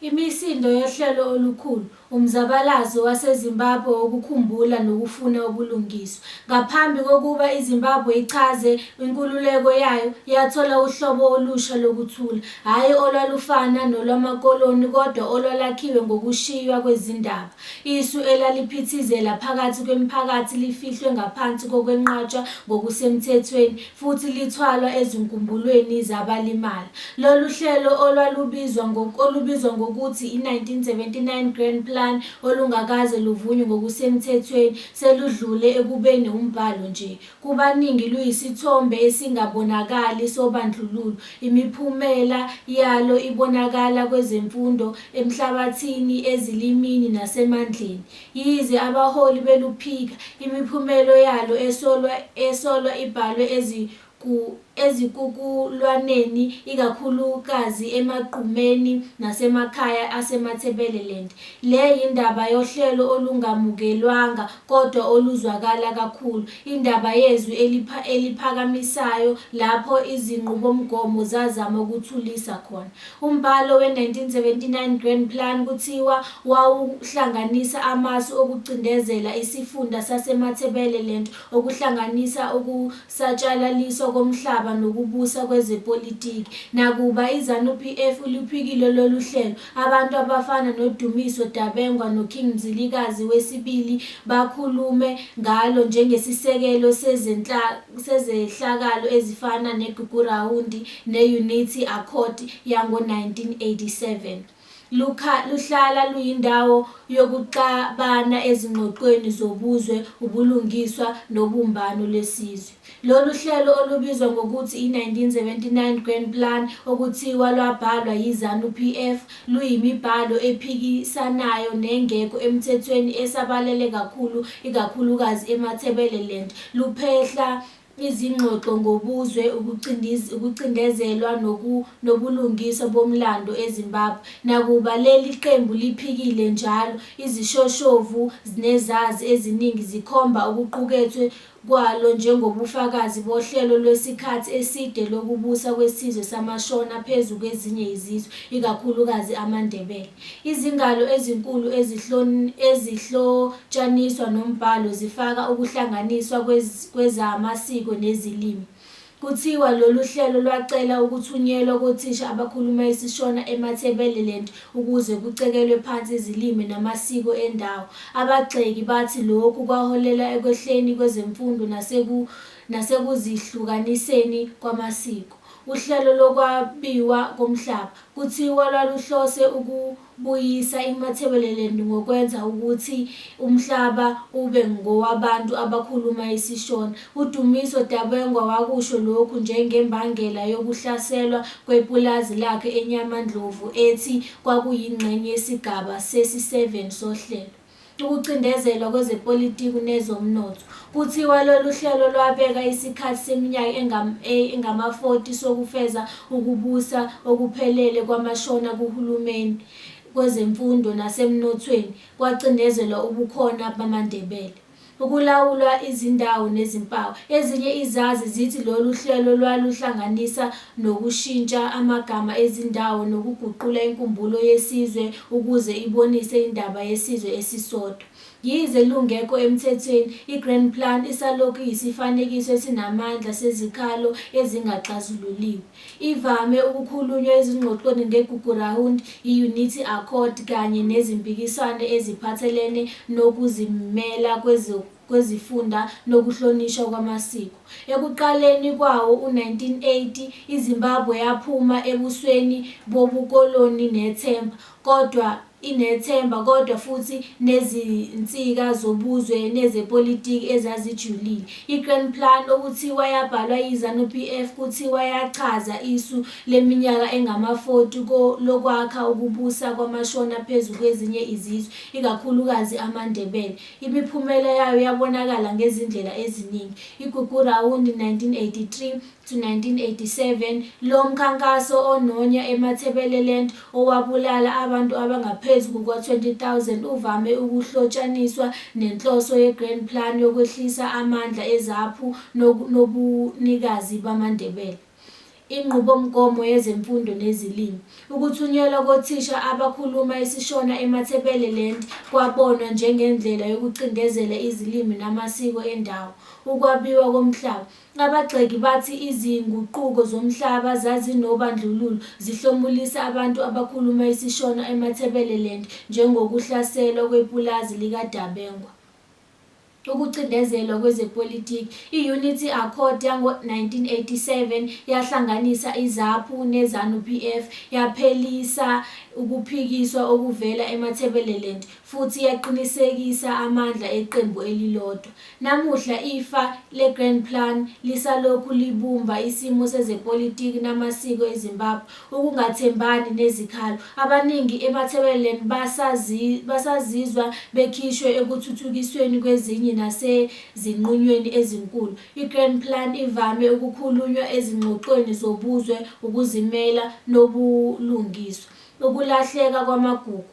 Imisindo yohlelo olukhulu, umzabalazo waseZimbabwe wokukhumbula nokufuna ubulungiswa. Ngaphambi kokuba iZimbabwe ichaze inkululeko yayo, yathola uhlobo olusha lokuthula, hhayi olwalufana nolwamakoloni kodwa olwalakhiwe ngokushiywa kwezindaba. Isu elaliphithizela phakathi kwemiphakathi lifihlwe ngaphansi kokwenqatshwa ngokusemthethweni futhi lithwalwa ezinkumbulweni zabalimala. Lolu hlelo olwalubizwa olubizwa ngokuthi i-1979 Grand Plan olungakaze luvunywe ngokusemthethweni seludlule ekubeni umbhalo nje Kubaningi luyisithombe esingabonakali sobandlululo. Imiphumela yalo ibonakala kwezemfundo, emhlabathini, ezilimini nasemandleni. Yize abaholi beluphika, imiphumelo yalo esolwa esolwa ibhalwe ezigu. ezikukulwaneni ikakhulukazi emagqumeni nasemakhaya aseMatabeleland. Le yindaba yohlelo olungamukelwanga kodwa oluzwakala kakhulu, indaba yezwi eliphakamisayo lapho izinqubomgomo zazama ukuthulisa khona. Umbhalo we-1979 Grand Plan kuthiwa wawuhlanganisa amasu okucindezela isifunda saseMatabeleland okuhlanganisa ukuhlukanisa satshalaliswa komhlaba nokubusa kwezepolitiki. Nakuba iZanu PF iluphikile lolu hlelo, abantu abafana noDumiso Dabengwa noKing Mzilikazi wesibili bakhulume ngalo njengesisekelo sezehlakalo ezifana neGugurawundi ne-Unity Accord yango-1987. Lukha luhlala luyindawo yokuxabana ezingxoxweni zobuzwe, ubulungiswa nobumbano lwesizwe. Lolu hlelo olubizwa ngokuthi i-1979 Grand Plan okuthiwa lwabhalwa yiZanu PF luyimibhalo ephikisanayo nengekho emthethweni esabalele kakhulu ikakhulukazi eMatabeleland luphehla Izingxoxo ngobuzwe, ukucindezelwa nobulungiswa bomlando eZimbabwe. Nakuba leli qembu liphikile njalo, izishoshovu nezazi eziningi zikhomba okuqukethwe kwalo njengobufakazi bohlelo lwesikhathi eside lokubusa kwesizwe samaShona phezu kwezinye izizwe, ikakhulukazi amaNdebele. Izingalo ezinkulu ezihlotshaniswa nombhalo zifaka ukuhlanganiswa kwezamasiko nezilimi. Kuthiwa lolu hlelo lwacela ukuthunyelwa kothisha abakhuluma isiShona eMatabeleland ukuze kucekelwe phansi izilimi namasiko endawo. Abagxeki bathi lokhu kwaholela ekwehleni kwezemfundo nasekuzihlukaniseni kwamasiko. Uhlelo lokwabiwa komhlaba. Kuthiwa lwaluhlose ukubuyisa iMatabeleland ngokwenza ukuthi umhlaba ube ngowabantu abakhuluma isiShona. UDumiso Dabengwa wakusho lokhu njengembangela yokuhlaselwa kwepulazi lakhe eNyamandlovu ethi kwakuyingxenye yesigaba sesi-7 sohlelo. ukucindezelwa kwezepolitiku nezomnotho. Kuthiwa lolu hlelo lwabeka isikhathi seminyaka engam, e, engama-40 sokufeza ukubusa okuphelele kwamaShona kuhulumeni, kwezemfundo nasemnothweni, kwacindezelwa ubukhona bamaNdebele. Ukulawulwa izindawo nezimpawu. Ezinye izazi zithi lolu hlelo lwaluhlanganisa nokushintsha amagama ezindawo nokuguqula inkumbulo yesizwe ukuze ibonise indaba yesizwe esisodwa. Yize lungekho emthethweni, i-Grand Plan isalokhu iyisifanekiso esinamandla sezikhalo ezingaxazululiwe. Ivame ukukhulunywa ezingxoxweni ngeGugurawundi, iYunithi Accord kanye nezimpikiswano eziphathelene nokuzimela kwezifunda nokuhlonishwa kwamasiko. Ekuqaleni kwawo-1980, iZimbabwe yaphuma ebusweni bobukoloni nethemba, kodwa inethemba kodwa futhi nezinsika zobuzwe nezepolitiki ezazijulile. I-Grand Plan okuthiwa yabhalwa yiZanu PF kuthiwa yachaza isu leminyaka engama-40 ko lokwakha ukubusa kwamaShona phezu kwezinye izizwe, ikakhulukazi amaNdebele. Imiphumela yayo yabonakala ngezindlela eziningi. IGugurawundi, 1983, 1987 lo mkhankaso ononya eMatabeleland owabulala abantu abangaphezu kuka-20,000 uvame ukuhlotshaniswa nenhloso ye-Grand Plan yokwehlisa amandla ezaphu nobunikazi bamaNdebele, inqubomgomo yezemfundo nezilimi. Ukuthunyelwa kothisha abakhuluma isiShona eMatabeleland kwabonwa njengendlela yokucindezela izilimi namasiko endawo, ukwabiwa komhlaba, Abagxeki bathi izinguquko zomhlaba zazinobandlululo, zihlomulisa abantu abakhuluma isiShona eMatabeleland njengokuhlaselwa kwepulazi likaDabengwa, ukucindezelwa kwezepolitiki. I-Unity Accord yango-1987 yahlanganisa iZAPU neZanu-PF, yaphelisa ukuphikiswa okuvela eMatabeleland futhi yaqinisekisa amandla eqembu elilodwa. Namuhla ifa le-Grand Plan lisalokhu libumba isimo sezepolitiki namasiko eZimbabwe, ukungathembani nezikhalo. Abaningi eMatabeleland basazizwa bekhishwe ekuthuthukisweni kwezinye nasezinqunyweni ezinkulu. I-Grand Plan ivame ukukhulunywa ezingxoxweni zobuzwe, ukuzimela nobulungiswa, ukulahleka kwamagugu.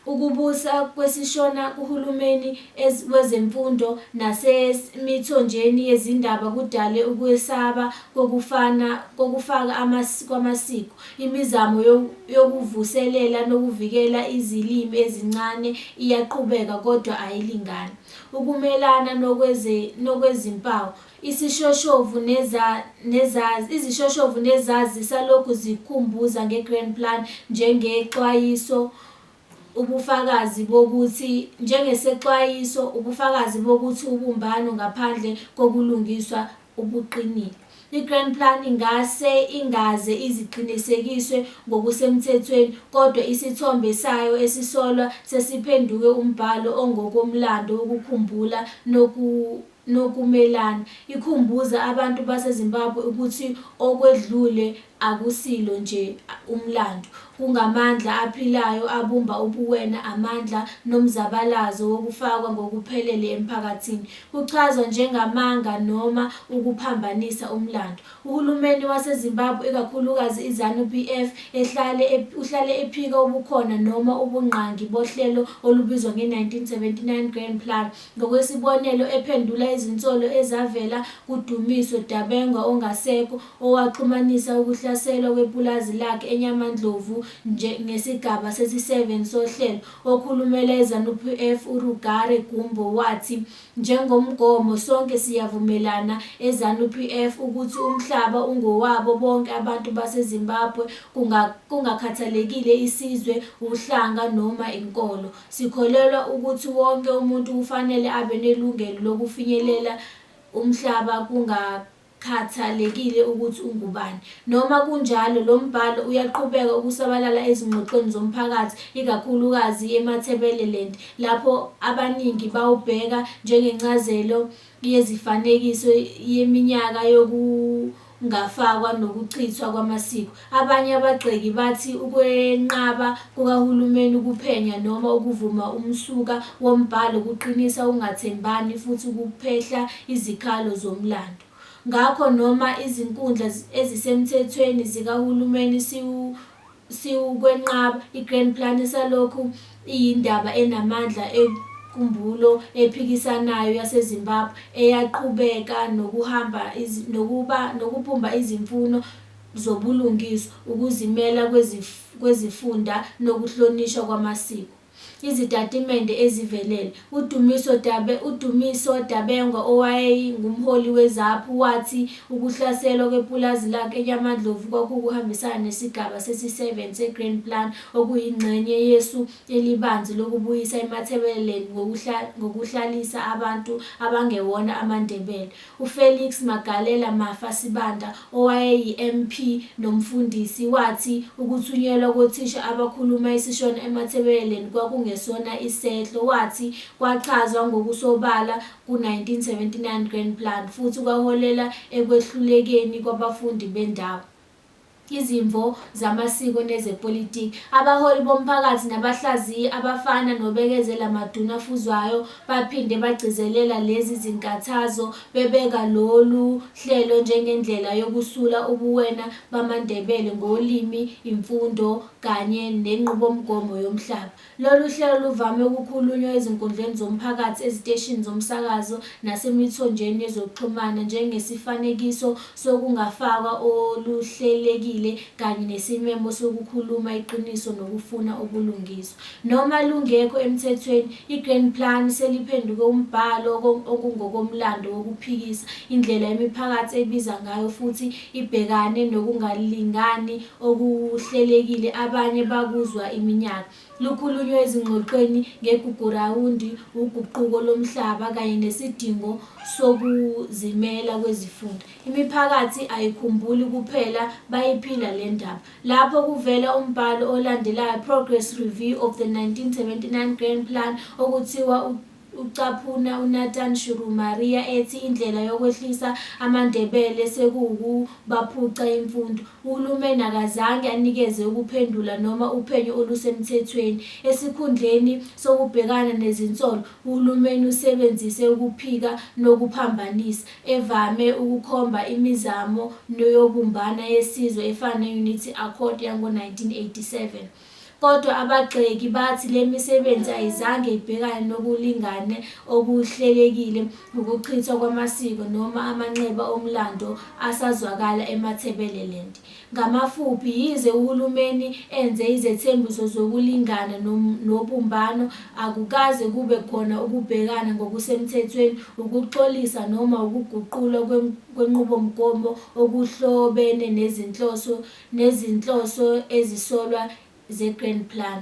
Ukubusa kwesiShona kuhulumeni ez wezemfundo nases mithonjeni yezindaba kudale ukwesaba kokufana kokufaka amas kwamasiko. Imizamo yo yokuvuselela nokuvikela izilimi ezincane iyaqhubeka kodwa ayilingani ukumelana nokweze nokwezimpawu. Isishoshovu neza, nezazi, izishoshovu nezazi zisalokhu zikhumbuza nge-Grand Plan njengexwayiso, ubufakazi bokuthi, njengesexwayiso, ubufakazi bokuthi ubumbano ngaphandle kokulungiswa ubuqinile. I-Grand Plan ingase ingaze iziqinisekiswe ngokusemthethweni, kodwa isithombe sayo esisolwa sesiphenduke umbhalo ongokomlando wokukhumbula noku, nokumelana, ikhumbuze abantu baseZimbabwe ukuthi okwedlule akusilo nje umlando, kungamandla aphilayo abumba ubuwena, amandla nomzabalazo wokufakwa ngokuphelele emphakathini, kuchazwa njengamanga noma ukuphambanisa umlando. Uhulumeni waseZimbabwe, ikakhulukazi iZanu PF, ehlale uhlale ephika ubukhona noma ubungqangi bohlelo olubizwa nge-1979 Grand Plan, Ngokwesibonelo, ephendula izinsolo ezavela kuDumiso Dabengwa ongasekho, owaxhumanisa ukuhlaselwa kwepulazi lakhe eNyamandlovu nje ngesigaba sesi-7 sohlelo, okhulumela iZanu-PF uRugare Gumbo wathi, Njengomgomo sonke siyavumelana eZanu-PF ukuthi umhlaba ungowabo bonke abantu baseZimbabwe kungakhathalekile isizwe, uhlanga noma inkolo. Sikholelwa ukuthi wonke umuntu kufanele abe nelungelo lokufinyelela umhlaba kungakhathalekile ukuthi ungubani. Noma kunjalo, lo mbhalo uyaqhubeka ukusabalala ezingxoxweni zomphakathi, ikakhulukazi eMatabeleland, lapho abaningi bawubheka njengencazelo yezifanekiso yeminyaka yokubusa kukaJesu. kungafakwa nokuchithwa kwamasiko. Abanye abagxeki bathi ukwenqaba kukahulumeni ukuphenya noma ukuvuma umsuka wombhalo kuqinisa ukungathembani futhi kuphehla izikhalo zomlando. Ngakho noma izinkundla ezisemthethweni zikahulumeni siwu Siwukwenqaba, i-Grand Plan isalokhu iyindaba enamandla enkumbulo ephikisanayo yaseZimbabwe eyaqhubeka nokuhamba nokuba nokubumba izimfuno zobulungiswa, ukuzimela kwezifunda nokuhlonishwa kwamasiko. Izitatimende ezivelele. UDumiso Dabe, uDumiso Dabengwa owayeyi ngumholi weZAPU wathi ukuhlaselwa kwepulazi lakhe eKyamandlovu kwakukuhambisana nesigaba sesi 7 seGrain Plan okuyingxenye yesu elibanzi lokubuyisa iMatabeleland ngokuhlalisa abantu abangewona amaNdebele UFelix Magalela Mafa Sibanda owayeyiMP nomfundisi, wathi ukuthunyelwa kothisha abakhuluma isiShona eMatabeleland kwakungesona isehlo, wathi kwachazwa ngokusobala ku-1979 Grand Plan futhi kwaholela ekwehlulekeni kwabafundi bendawo. izimvo zamasiko nezepolitiki. Abaholi bomphakathi nabahlaziyi abafana noBekezela Maduna Fuzwayo baphinde bagcizelela lezi zinkathazo bebeka lolu hlelo njengendlela yokusula ubuwena bamaNdebele ngolimi, imfundo kanye nenqubomgomo yomhlaba. Lolu hlelo luvame ukukhulunywa ezinkundleni zomphakathi, eziteshini zomsakazo nasemithonjeni yezokuxhumana njengesifanekiso sokungafakwa oluhlelekile kanye nesimemo sokukhuluma iqiniso nokufuna ubulungiswa. Noma lungekho emthethweni, i-Grand Plan seliphenduke umbhalo okungokomlando wokuphikisa indlela imiphakathi ebiza ngayo futhi ibhekane nokungalingani okuhlelekile abanye bakuzwa iminyaka lukhulunywe ezingxoxweni ngeGugurawundi, wuguquko lomhlaba kanye nesidingo sokuzimela kwezifunda. Imiphakathi ayikhumbuli kuphela, bayiphila le ndaba. Lapho kuvela umbhalo olandelayo, Progress Review of the 1979 Grand Plan, okuthiwa Ucaphuna uNathan Shurumaria ethi indlela yokwehlisa amaNdebele sekuwukubaphuca imfundo. Uhulumeni akazange anikeze ukuphendula noma uphenyo olusemthethweni. Esikhundleni sokubhekana nezinsolo, uhulumeni usebenzise ukuphika nokuphambanisa, evame ukukhomba imizamo yobumbana yesizwe efana ne-Unity Accord yango-1987. Kodwa abagxeki bathi le misebenzi ayizange ibhekane nokulingane okuhlelekile, ukuchithwa kwamasiko noma amanxeba omlando asazwakala eMatabeleland. Ngamafuphi, yize uhulumeni enze izethembiso zokulingana nobumbano, akukaze kube khona ukubhekana ngokusemthethweni, ukuxolisa noma ukuguqulwa kwenqubomgomo okuhlobene nezinhloso nezinhloso ezisolwa zeGrand Plan.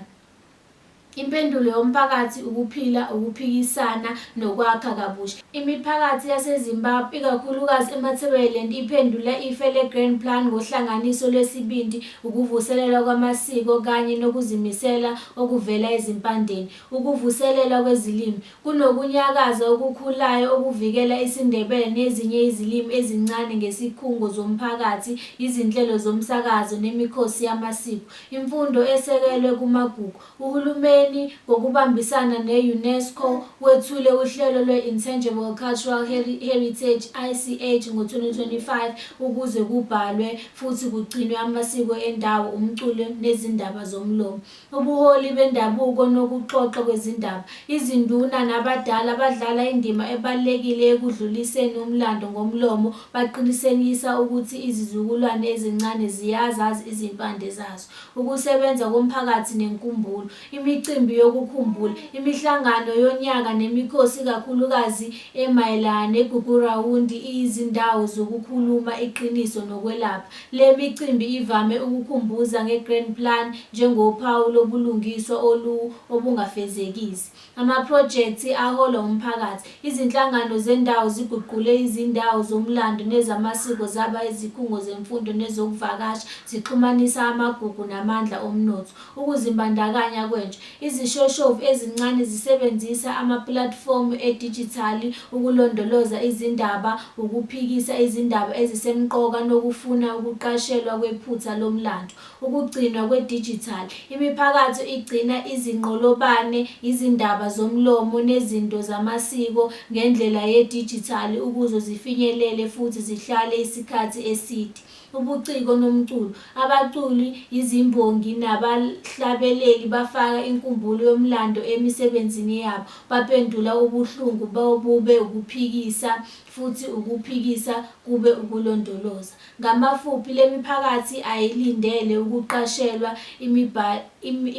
Impendulo yomphakathi ukuphila, ukuphikisana nokwakha kabusha. Imiphakathi yaseZimbabwe, ikakhulukazi eMatabeleland iphendula ife leGrand Plan ngohlanganiso lwesibindi, ukuvuselelwa kwamasiko kanye nokuzimisela okuvela ezimpandeni. Ukuvuselelwa kwezilimi. Kunokunyakaza okukhulayo okuvikela isiNdebele nezinye izilimi ezincane ngesikhungo zomphakathi, izinhlelo zomsakazo nemikhosi yamasiko. Imfundo esekelwe kumagugu. Uhulumeni, ngokubambisana ne-UNESCO, wethule uhlelo lwe-Intangible Cultural Heritage, ICH, ngo-2025 ukuze kubhalwe futhi kugcinwe amasiko endawo, umculo nezindaba zomlomo. ubuholi bendabuko nokuxoxwa kwezindaba. Izinduna nabadala badlala indima ebalulekile ekudluliseni umlando ngomlomo, baqinisekisa ukuthi izizukulwane ezincane ziyazazi izimpande zazo. Ukusebenza komphakathi nenkumbulo, imicimbi yokukhumbula, imihlangano yonyaka nemikhosi ikakhulukazi emayelana neGugurawundi iyizindawo zokukhuluma iqiniso nokwelapha. Le micimbi ivame ukukhumbuza nge-Grand Plan njengophawu lobulungiswa olu obungafezekisi. Amaphrojekthi aholwa umphakathi, izinhlangano zendawo ziguqule izindawo zomlando nezamasiko zaba izikhungo zemfundo nezokuvakasha, zixhumanisa amagugu namandla omnotho. Ukuzimbandakanya kwentsha, Izishoshovu ezincane zisebenzisa amapulatifomu edijithali ukulondoloza izindaba, ukuphikisa izindaba ezisemqoka nokufuna ukuqashelwa kwephutha lomlando. Ukugcinwa kwedijithali, Imiphakatho igcina izinqolobane, izindaba zomlomo nezinto zamasiko ngendlela yedijithali ukuzo zifinyelele futhi zihlale isikhathi eside. ubuciko nomculo. Abaculi, izimbongi nabahlabeleli bafaka inkumbulo yomlando emisebenzini yabo, bapendula ubuhlungu bobube ukuphikisa futhi ukuphikisa kube ukulondoloza. Ngamafuphi, le miphakathi ayilindele ukuqashelwa,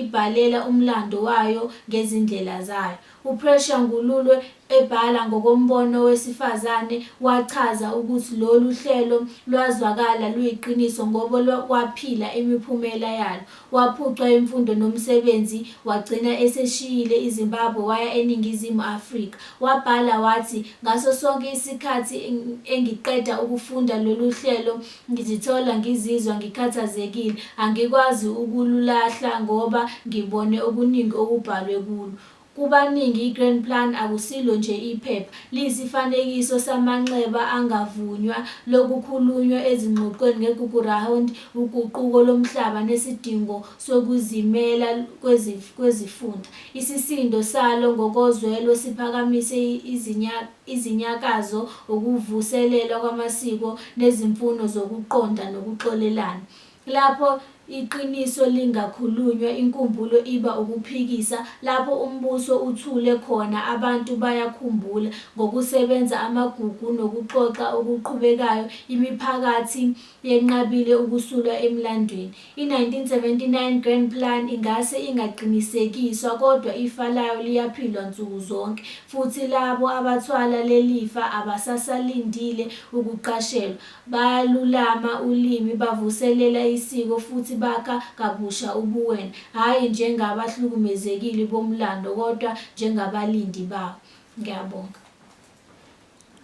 ibhalela umlando wayo ngezindlela zayo. UPrecious Ngululwe ebhala ngokombono wesifazane wachaza ukuthi lolu hlelo lwazwakala luyiqiniso ngoba waphila imiphumela yalo. Waphucwa imfundo nomsebenzi wagcina eseshiyile iZimbabwe waya eNingizimu Afrika. Wabhala wathi, Ngaso sonke isikhathi engiqeda ukufunda lolu hlelo, Ngizithola ngizizwa ngikhathazekile, angikwazi ukululahla ngoba ngibone okuningi okubhalwe kulo. Kubaningi i-Grand Plan akusilo nje iphepha, liyisifanekiso samanxeba angavunywa lokukhulunywa ezingxoxweni ngeGugu'Round, uguquko lomhlaba nesidingo sokuzimela kwezifunda. Isisindo salo ngokozwelo siphakamise izinyanga. izinyakazo, ukuvuselelwa kwamasiko nezimfuno zokuqonda nokuxolelana. Lapho iqiniso lingakhulunywa, inkumbulo iba ukuphikisa, lapho umbuso uthule khona, abantu bayakhumbula. Ngokusebenza amagugu nokuxoxa okuqhubekayo, imiphakathi yenqabile ukusulwa emlandweni. I-1979 Grand Plan ingase ingaqinisekiswa, kodwa ifa layo liyaphilwa nsuku zonke, futhi labo abathwala lelifa abasasalindile ukuqashelwa. Bayalulama ulimi, bavuselela isiko, futhi bakha kabusha ubuwena, hhayi njengabahlukumezekile bomlando kodwa njengabalindi bawo. Ngiyabonga.